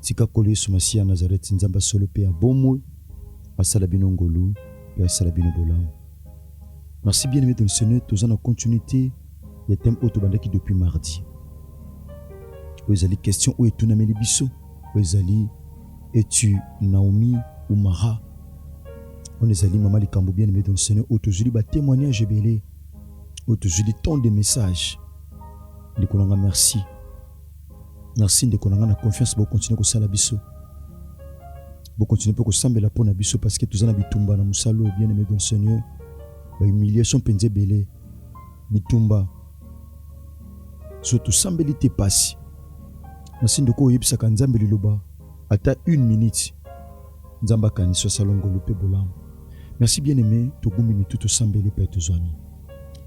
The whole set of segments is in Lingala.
Tika Nkolo Yesu Masiya ya Nazareti, Nzambe ya solo mpe ya bomoi, asala bino ngolu mpe asala bino bolamu. Merci bien aimé dans le Seigneur, toza na continuité ya thème oyo tobandaki depuis mardi. Oyo ezali question oyo etunameli biso, oyo ezali es-tu Naomi ou Mara? On ezali mama likambo bien aimé dans le Seigneur, oyo tozwili ba témoignages ebele, oyo tozwili tant de messages. Ndeko na nga merci. Merci ndeko na nga na confiance bo continuer kosala biso. Bo continuer pe kosambela pona biso parce que toza na bitumba na musalo bien aimé dans Seigneur. Ba humiliation penza ebele. Bitumba. So tosambeli te pasi. Merci ndeko oyebisaka Nzambe liloba ata une minute. Nzambe akanisi asala ngolu pe bolamu. Merci bien aimé togumbi mitu tosambeli pe tozwami.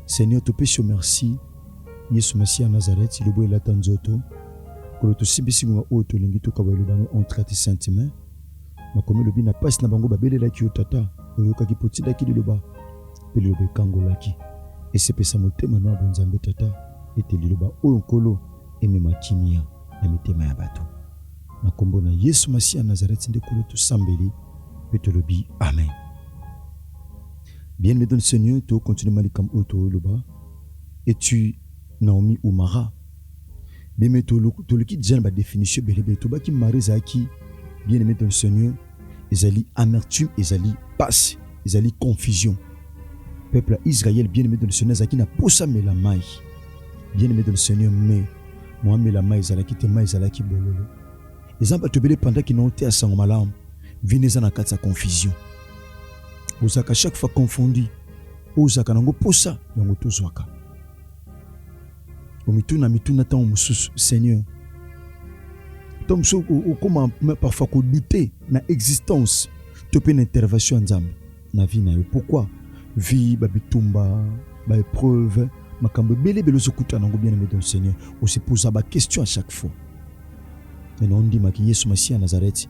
Seigneur topesi yo merci. Yesu Masiya ya Nazareth, lobo elata nzoto, kolo tosimbi singo na oyo tolingi tokaba eloba no on trati sentiment. Makomi elobi na pasi na bango babelelaki yo tata, oyokaki mpo otindaki liloba, mpe liloba ekangolaki. Esepesa motema no ya bonzambe tata, ete liloba oyo Nkolo emema kimia na mitema ya bato. Na kombo na Yesu Masiya ya Nazareth nde kolo tosambeli mpe tolobi amen. Bien-aimé dans le Seigneur, to continue malikambo oyo toloba. Et tu Naomi Umara beme toluki deja na badefinition ebelebele tobaki mari ezalaki bien aimé dans le seigneur ezali amertume ezali pasi ezali confusion peuple ya israel bien aimé dans le seigneur azalaki na posa mela mai bien aimé dans le seigneur mais mwa mela mai ezalaki te mai ezalaki bololo eza bato ebele epandaki na ote ya sango malamu vino eza na kati ya confusion ozalaka chaque fois confondi oyo ozalaka nango mposa yango tozwaka omituna mituna ntango mosusu seigneur ntango mosusu okoma parfois kodute na existence to mpe na intervention ya nzambe na vie na yo pourquoi vie babitumba baepreuve makambo ebele ebele ozokutana nango bien aimé don seigneur osipoza baquestion à chaque fois nene ondimaki yesu masiya nazareti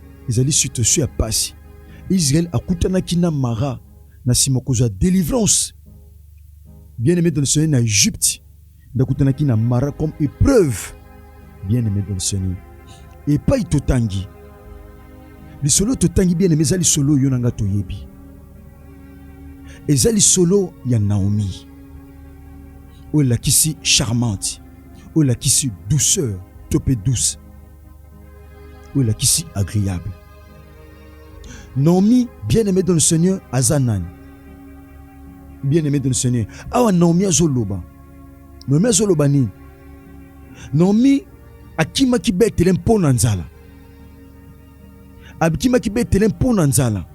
ezali situation ya pasi. Israël akutanaki na Mara na sima kozwa delivrance. Bien aimé dans le Seigneur, na Egypte nde akutanaki na Mara comme épreuve. Bien aimé dans le Seigneur, epai totangi lisolo totangi bien aimé eza lisolo yo na nga toyebi, eza lisolo ya Naomi oyo elakisi charmante, oyo elakisi douceur to mpe douce oyo elakisi agreable. Naomi bien-aimé dans le Seigneur aza nani? Bien-aimé dans le Seigneur. Awa Naomi azoloba. Naomi azoloba nini? Naomi akimaki Betele mpo na nzala. Akimaki Betele mpo na nzala.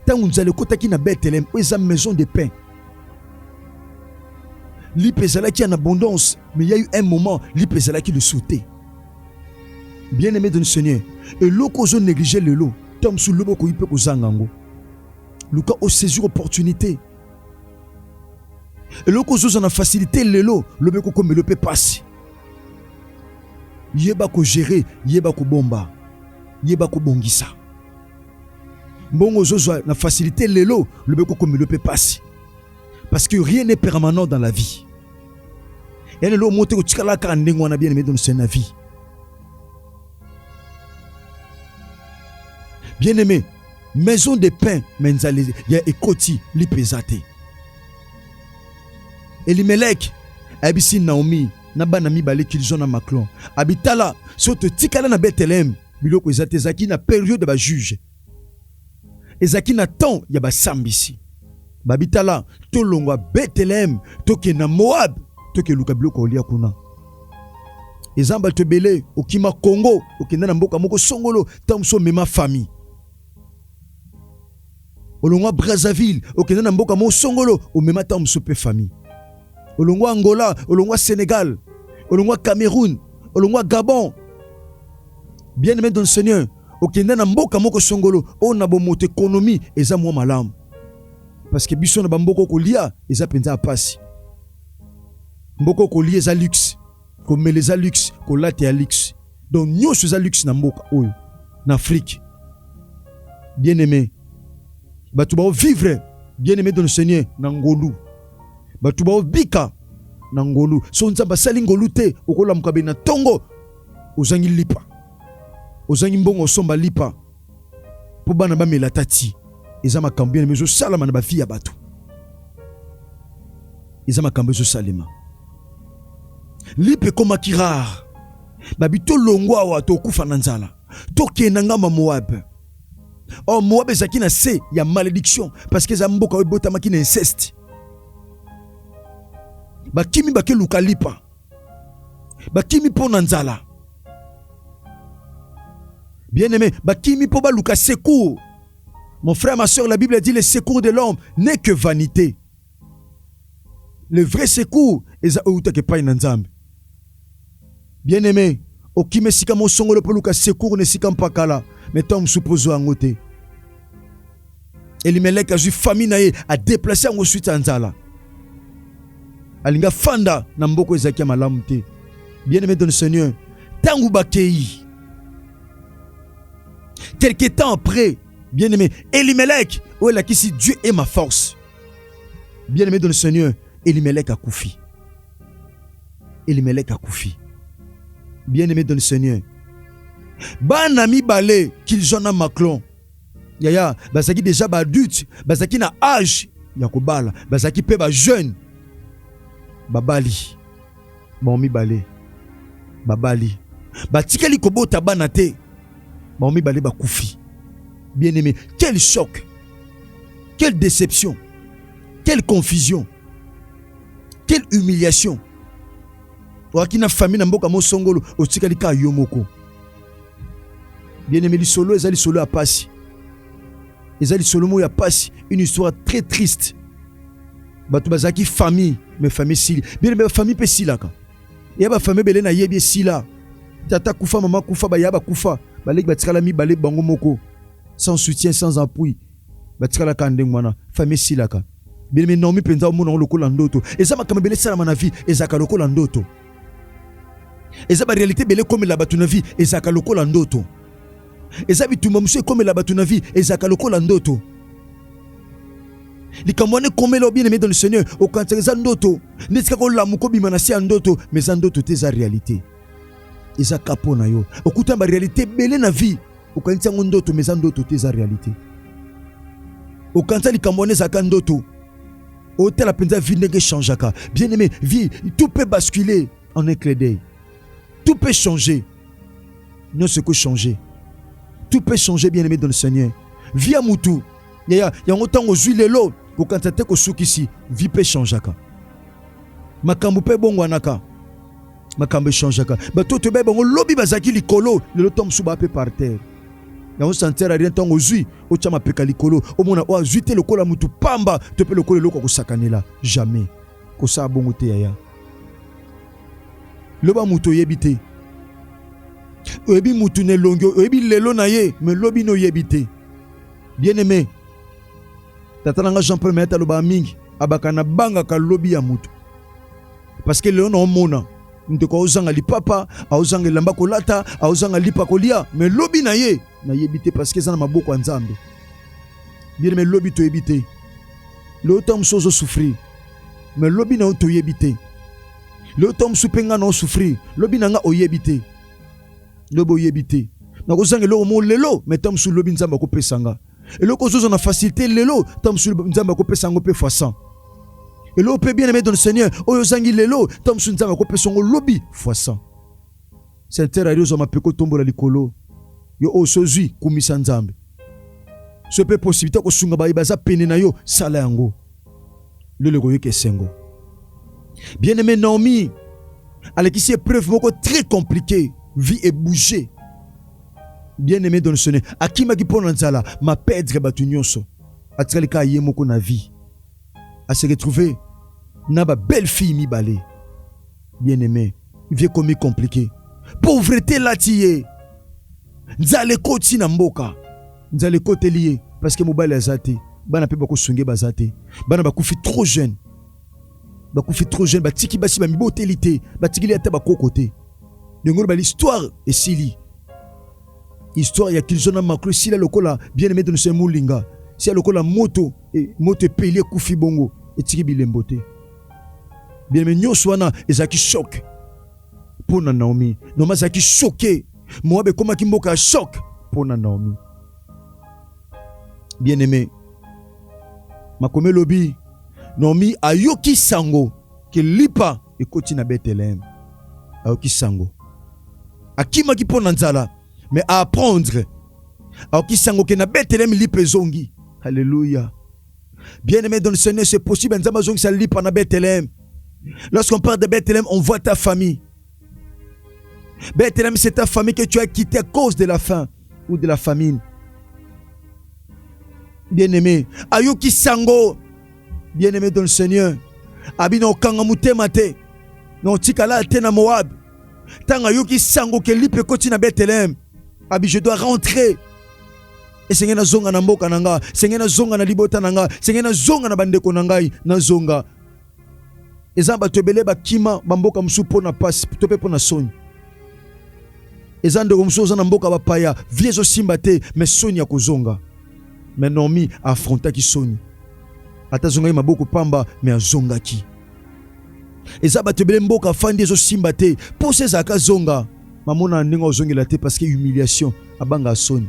Ntango nzala ekotaki na Betele, oyo eza maison de pain. Lipa ezalaki en abondance. Mais il y a eu un moment, lipe ezalaki le sauter. Bien aimé de Seigneur, et loko ozo négliger lelo, tom sous lobo ko ipe kozanga ngo. Luka o saisir opportunité. Et loko ozo na facilité lelo, lobe ko komelo pe pasi. Yeba ko gérer, yeba ko bomba, yeba ko bongisa. Mbongo ozo na facilité lelo, lobe ko komelo pe pasi. parce que rien n'est permanent dans la vie ya lelo moko te kotikala kaka ndenge wana bien aimé dans le na vie bien aimé maison de pain me nzali ya ekoti lipa eza te elimeleke ayebisi naomi na bana mibale kilizon na maclon abitala so totikala na beteleme biloko eza te ezalaki na periode ya bajuge Ezalaki na temps ya basambisi babi, tala tolongwa Bethlehem tokende na Moab tokeluka biloko olia kuna. Eza bato ebele okima Congo okenda na mboka moko songolo, ntango mosusu omema famille olongwa Brazzaville okenda na mboka moko songolo omema ntango mosusu mpe famille olongwa Angola, olongwa Senegal, olongwa Cameroun, olongwa Gabon. Bien aimé dans le Seigneur, okenda na mboka moko songolo oyo na bomoto ekonomi eza mwa malamu, parce que biso na bamboka okolia eza mpenza ya mpasi. Mboka okolia eza luxe, Komela eza luxe, kolata ya luxe. Donc nyonso eza luxe na mboka oyo, na Afrique. Bien aimé, bato bao vivre bien aimé dans le Seigneur na ngolu, bato bao bika na ngolu. So Nzambe asali ngolu te, okolamuka be na tongo, ozangi lipa, ozangi mbongo osomba lipa. mpo bana bamela ata ti eza makambo ena ezosalama na bafi ya bato eza makambo ezosalema lipe ekomaki rare babi tolongwa awa tokufa na nzala tokenda ngamba moabe or oh, moabe ezalaki na se ya malediction parce que eza mboka oyo ebotamaki na inceste bakimi bakeluka lipa bakimi mpo na nzala bien aimé bakimi mpo baluka secours mon frère ma soeur la bible a dit le secours de l'homme n'est que vanité le vrai secours eza oyo utaka epai na nzambe bien aimé okima esika mosongolo mpo luka secours na esika mpakala me ntango mosusu mpo ozwa yango te elimeleke azwi famille na ye adeplace yango suite ya nzala alingi afanda na mboko ezalaki ya malamu te bien aimé don seigneur ntango bakei quelque temps après bien aimé elimeleke oyo elakisi dieu est ma force bien aimé don seigneur elimeleke akufi elimeleke akufi bien aimé don seigneur bana mibale kilzona maclon yaya bazalaki deja ba adulte bazalaki na age ya kobala bazalaki mpe ba jeune babali bango mibale babali batikali kobota bana te bango mibale bakufi bien aimé quel choc quelle déception quelle confusion quelle humiliation oaki na famille na mboka mosongolo otikali kaka yo moko bien aimé lisolo eza lisolo ya pasi eza lisolo moko ya pasi une histoire très triste bato bazalaki famille mais famille sili bien aimé famille mpe esilaka eya bafamille ebele nayebi esila tata kufa mama kufa baya bakufa baleki batikala mibale bango moko sans soutien sans appui batikalaka ndenge wana famille esilaka bien aimé naomi mpenza omona yango lokola ndoto eza makambo ebele esalama na vie ezalaka lokola ndoto eza barealité ebele ekomela bato na vie ezalaka lokola ndoto eza bitumba mosusu ekomela bato na vie ezalaka lokola ndoto likambo wana ekomela bien aimé dans le seigneur okanisaka eza ndoto ndeti kaka olamuka obima na se ya ndoto mais eza ndoto te eza réalité eza ka mpo na yo okutana barealité ebele na vie okanisi yango ndoto mais eza ndoto te eza réalité okanisa likambo wana ezalaka ndoto otala mpenza vie ndenge echangeaka bien aimé vie tout peut basculer en un clé d'œil tout peut changer nyonso ekochanger tout peut changer bien aimé dans le seigneur vie ya mutu yaya yango ntango ozwi lelo kokanisa te kosukisi vie mpe echangeaka makambo mpe ebongwanaka makambo echangaka bato oyo toyebai bango lobi bazalaki likolo lelo ntango mosusu baa mpe par terre yango santere rien ntango ozwi otya mapeka likolo omona oyo azwi te lokola motu pamba to mpe lokola eloko ya kosakanela jamais kosala bongo te yaya loba motu oyebi te oyebi motu na elongi oyebi lelo na ye me lobi na oyebi te bien aime tata na nga jean paul mayata alobaka mingi abaka na bangaka lobi ya motu Parce que lelo na omona ndeko aozanga lipapa aozanga elamba kolata aozanga lipa kolia me lobi na ye nayebi te parceke eza na maboko ya nzambe bien me lobi toyebi te lelo ntango mosusu ozosouffrir me lobi na yo toyebi te lelo ntango mosusu mpe ngai na osouffrir lobi na ngai oyebi te lobi oyebi te nakozanga eloko mo lelo me ntango mosusu lobi nzambe akopesa ngai eloko ozoza na facilité lelo ntango mosusu nzambe akopesa yango mpe fois 100 eloko mpe bien aimé dans le seigneur oyo ozangi lelo ntango mosusu nzambe akopesa yango lobi fois 100 senter ari ozwa mapeko otombola likolo yo oyo sozwi kumisa nzambe soki mpe posibilité ya kosunga baye baza pene na yo sala yango lelo ekoyoka esengo bien aimé naomi alekisi epreuve moko très compliqué vie ebouge Bien-Aime Edonsone akimaki mpo na nzala, ma perdre bato nyonso, atikali kaka ye moko na vie, a se retrouver na ba belle fille mibale. Bien-Aime, vie ekomi compliquer, pauvrete elati ye, nzala ekoti na mboka, nzala ekoteli ye parce que mobali aza te, bana mpe bakosunge baza te, bana bakufi trop jeune. bakufi trop jeune batiki basi bamiboteli te batikili ata bakoko te ndenge oloba l'histoire esili histoire ya kilzo na maklo esila lokola bien aimé de nous molinga sia lokola moto e, moto epeli ekufi bongo etiki bilembo te bien aimé nyonso wana ezalaki choc mpo na naomi naomi azalaki choke moabe ekomaki mboka ya choc mpo na naomi Bien-aimé, makomi elobi Naomi ayoki sango ke lipa ekoti na Bethlehem. Ayoki sango. Akimaki mpo na nzala, mais a apprendre. Ayoki sango ke na Bethlehem lipa ezongi. Alléluia. Bien-aimé dans le Seigneur, c'est possible. Nzambe azongisa lipa na Bethlehem. Lorsqu'on parle de Bethlehem, on voit ta famille. Bethlehem, c'est ta famille que tu as quitté à cause de la faim ou de la famine. Bien-aimé, Ayuki Sango, bien-aimé dans le Seigneur, Abino Kangamutemate, non Tikala Tena Moab, Tanga Yuki Sango, Kelipe Kotina Bethlehem, Abi, je dois rentrer. Et esenge nazonga na mboka na nga esenge nazonga na libota na nga esenge nazonga na bandeko na ngai nazonga eza bato ebele bakima bamboka mosusu mpo na mpasi to mpe mpo na soni eza ndeko mosusu oza na mboka bapaya vie ezosimba te me soni ya kozonga me normi afrontaki soni ata azongaki maboko pamba me azongaki eza bato ebele mboka afandi ezosimba te mposa ezalaka zonga mamona ndenge ozongela te parce que humiliation abanga soni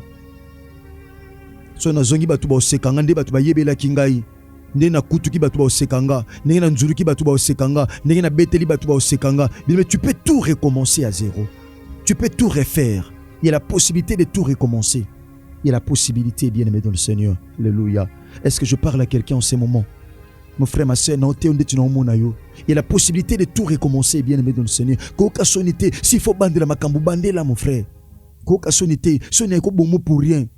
so nazongi bato baosekanga nde bato bayebelaki ngai ndenge nakutuki bato baoseka nga ndenge nanzuluki bato baoseka nga ndenge nabeteli bato baoseka nga bilome tu peux tout recommencer à zéro tu peux tout refaire il y a la possibilité de tout recommencer il y a la possibilité bien aimé dans le seigneur alléluia est ce que je parle à quelqu'un en ce moment mon frère ma soeur nao te yo ndeti naomona yo il y a la possibilité de tout recommencer bien aimé dans le seigneur koyoka soni te s'il faut bandela makambo bandela mon frère koyoka soni te soni ekobomo pour rien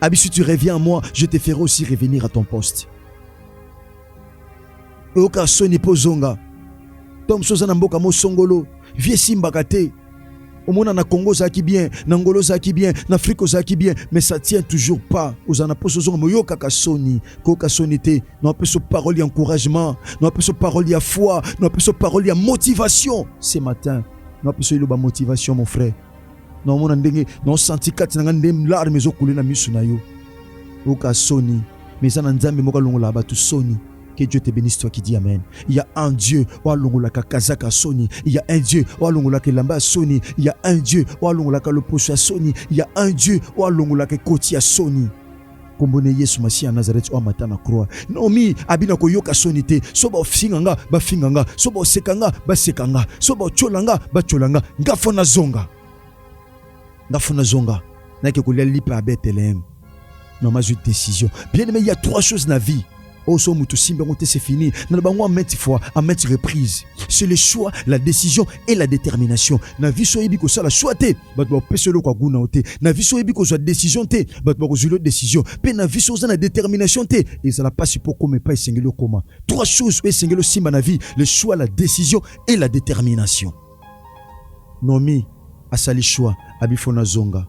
Abi, si tu reviens à moi, je te ferai aussi revenir à ton poste. oyoka soni mpo ozonga ntango mosusu oza na mboka mosongolo vie esimbaka te omona na congo ozalaki bien na ngolo ozalaki bien na afrike ozalaki bien mais ça tient toujours pas ozala na mposo ozonga moyokaka soni koyoka soni te na opeso parole ya encouragement na opeso parole ya foi na opeso parole ya motivation ce matin na opeso eloba motivation mon frère naomona ndenge naosanti kati na ngai nde larme ezokule na miso na yo oka soni me eza na nzambe moko alongolaka bato soni Que Dieu te bénisse, toi qui dis Amen. Il y a un Dieu, Walongolaka Kazaka Sony. Il y a un Dieu, Walongolaka Lamba Sony. Il y a un Dieu, Walongolaka Loposo Sony. Il y a un Dieu, Walongolaka Koti Sony. kombo ne yesu masiya ya nazareti oyo amata na croix naomi abina koyoka soni te so bafinga nga bafinga nga so baseka nga baseka nga so batyola nga batyola nga nga fo nazonga nga fo nazonga nake kolia lipa ya beteleheme noma azwi decision bien aime ya trois choses na vie Oh, so mutu simba ngote c'est fini. Na bango en maintes fois, en maintes reprises. C'est le choix, la décision et la détermination. Na vie so yebi ko sala choix te, bat ba pese lo kwa guna te. Na vie so yebi ko zwa décision te, bat ba ko zwa décision. Pe na vie so za na détermination te, ezala pasi po koma pa esengeli koma. Trois choses o esengeli simba na vie, le choix, la décision et la détermination. Nomi asali choix, abifona zonga.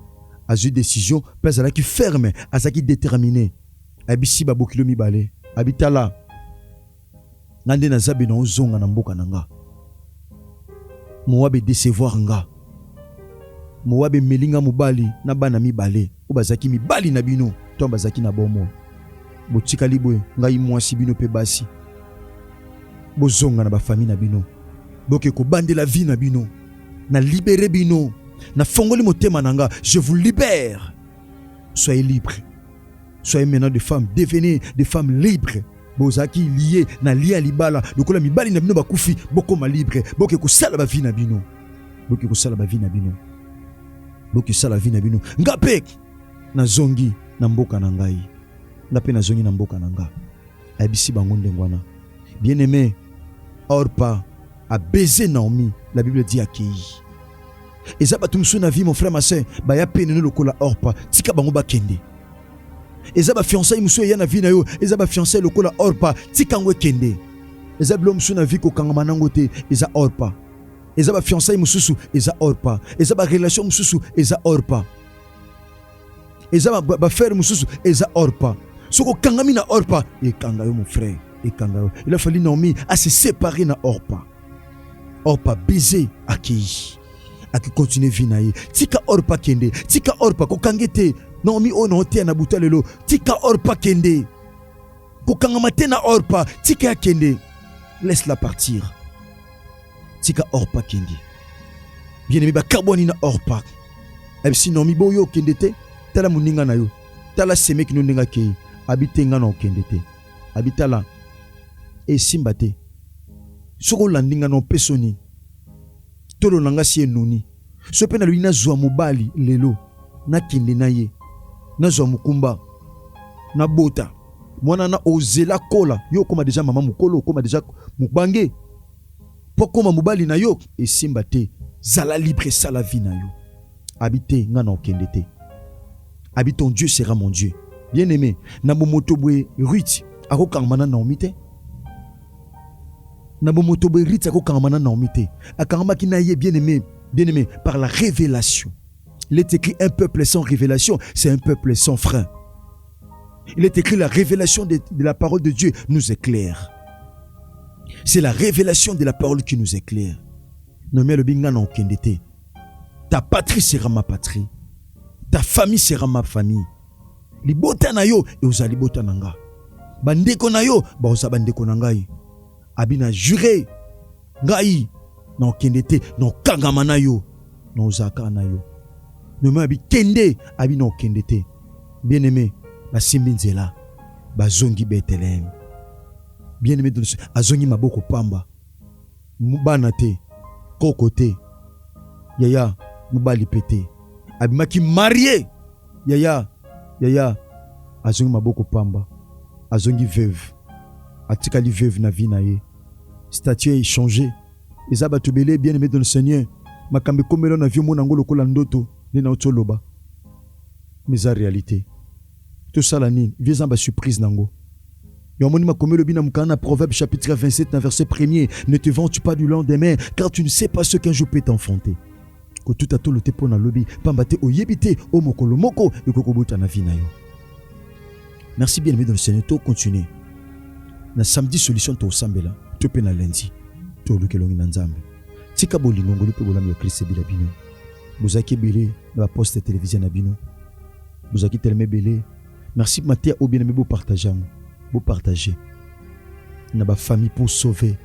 Azwi décision, pe azalaki ferme, azalaki déterminé. Ayebisi ba bokilo mibale, abi tala nga nde naza bino ozonga na mboka na nga. Moab e decevoir nga. Moab emeli nga mobali na bana mibale oyo bazalaki mibali na bino to bazalaki na bomoi. Botikali boye ngai mwasi bino mpe basi bozonga na bafami na bino boke kobandela vie na bino na libere bino na fongoli motema na nga je vous libère soyez libre soyez maintenant de femme devenez de femme libre bozalaki lie na lie ya libala lokola mibali na bino bakufi bokoma libre boke kosala bavi na bino boke kosala bavi na bino boke sala vi na bino nga mpe nazongi na mboka na ngai nga mpe nazongi na mboka na nga ayebisi bango ndenge wana bien aime orpa abeze naomi la bible dit akei eza bato mosusu na vie mon frère ma soeur baya pene no lokola orpa tika bango bakende eza bafiançai mosusu eya na vie na yo eza bafiançai lokola orpa tika yango ekende eza bilo mosusu na vie kokangama nango te eza orpa eza bafiançai mosusu eza orpa eza barelation mosusu eza orpa eza bafere mosusu eza orpa soki okangami na orpa ekanga yo mon frère ekanga yo il a fallu naomi a se séparer na orpa orpa baiser akei akokontinue vie na ye tika orpa kende tika orpa kokange te naomi oyo naoteya na buta lelo tika orpa kende kokangama te na orpa tika ya kende laisse la partir tika orpa kende bien aime bakabwani na orpa ayebisi eh, naomi boyo okende te tala moninga na yo tala semeki no ndenge akei abi te ngai na okende te abi tala esimba te Soki olandi nga na opeso nini? Tolo na nga si enuni. Soki mpe nalobi nazwa mobali lelo, nakende na ye, nazwa mokumba, nabota mwana na ozela kola, yo okoma deja mama mokolo, okoma deja mobange mpo akoma mobali na yo, esimba te. Zala libre, sala vie na yo. Abi te, nga na okende te. abi ton Dieu sera mon Dieu. Bien aimé, na bomoto boye Ruth akokangama na Naomi te. Na bomoto boye Ruth akokangama na Naomi te. Akangamaki na ye bien aimé, bien aimé par la révélation. Il est écrit un peuple sans révélation, c'est un peuple sans frein. Il est écrit la révélation de, de la parole de Dieu nous éclaire. C'est la révélation de la parole qui nous éclaire. Nomi alobi nga na okende te. Ta patrie sera ma patrie. Ta famille sera ma famille. Libota na yo ekozala libota na nga. Bandeko na yo bakozala bandeko na ngai. Abi na jure ngai na okende te na okangama na yo na ozala kaka na yo. Nome abi kende abi na okende te. Bien aimé basimbi nzela bazongi Bethlehem. Bien aimé azongi maboko pamba. Bana te, koko te, yaya mobali pe te. Abimaki marie, yaya, yaya azongi maboko pamba. Azongi veuve. Atikali veuve na vie na ye. Statut e changer. Eza batu ebele bien aime dans le Seigneur. Makambo ekomeli yo na vie omona yango lokola ndoto nde nauti oloba. Mais eza realite. Tosala nini? Vie eza na ba surprise na yango. Yo amoni makomi elobi na mokanda na Proverbe chapitre 27 na verset premier, ne te vante pas du lendemain car tu ne sais pas ce qu'un jour peut t'enfanter. Kotuta tolo te mpo na lobi, pamba te oyebi te o mokolo moko ekoki kobota na vie na yo. Merci bien aimé dans le Seigneur, to continuer na samedi solution tosambela to mpe na lundi toluka elongi na Nzambe. Tika bolingo ngolu mpe bolamu ya Kristo ebila bino. Bozalaki ebele na baposte ya televizio na bino bozalaki telema ebele merci mateya oyo bien aime bopartage yango bopartage na bafamille pour sauver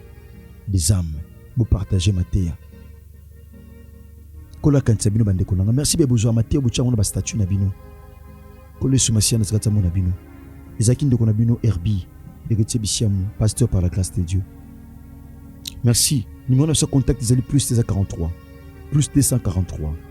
des âmes bopartage mateya nkolo akanisa bino bandeko nanga merci be bozwa mateya botya yango na bastatut na bino nkolo yesu masiya na zakati yango na bino ezalaki ndeko na bino herbi eketie bisiamu pasteur par la grâce de dieu merci numéro na biso ya contact ezali plus 243 plus 243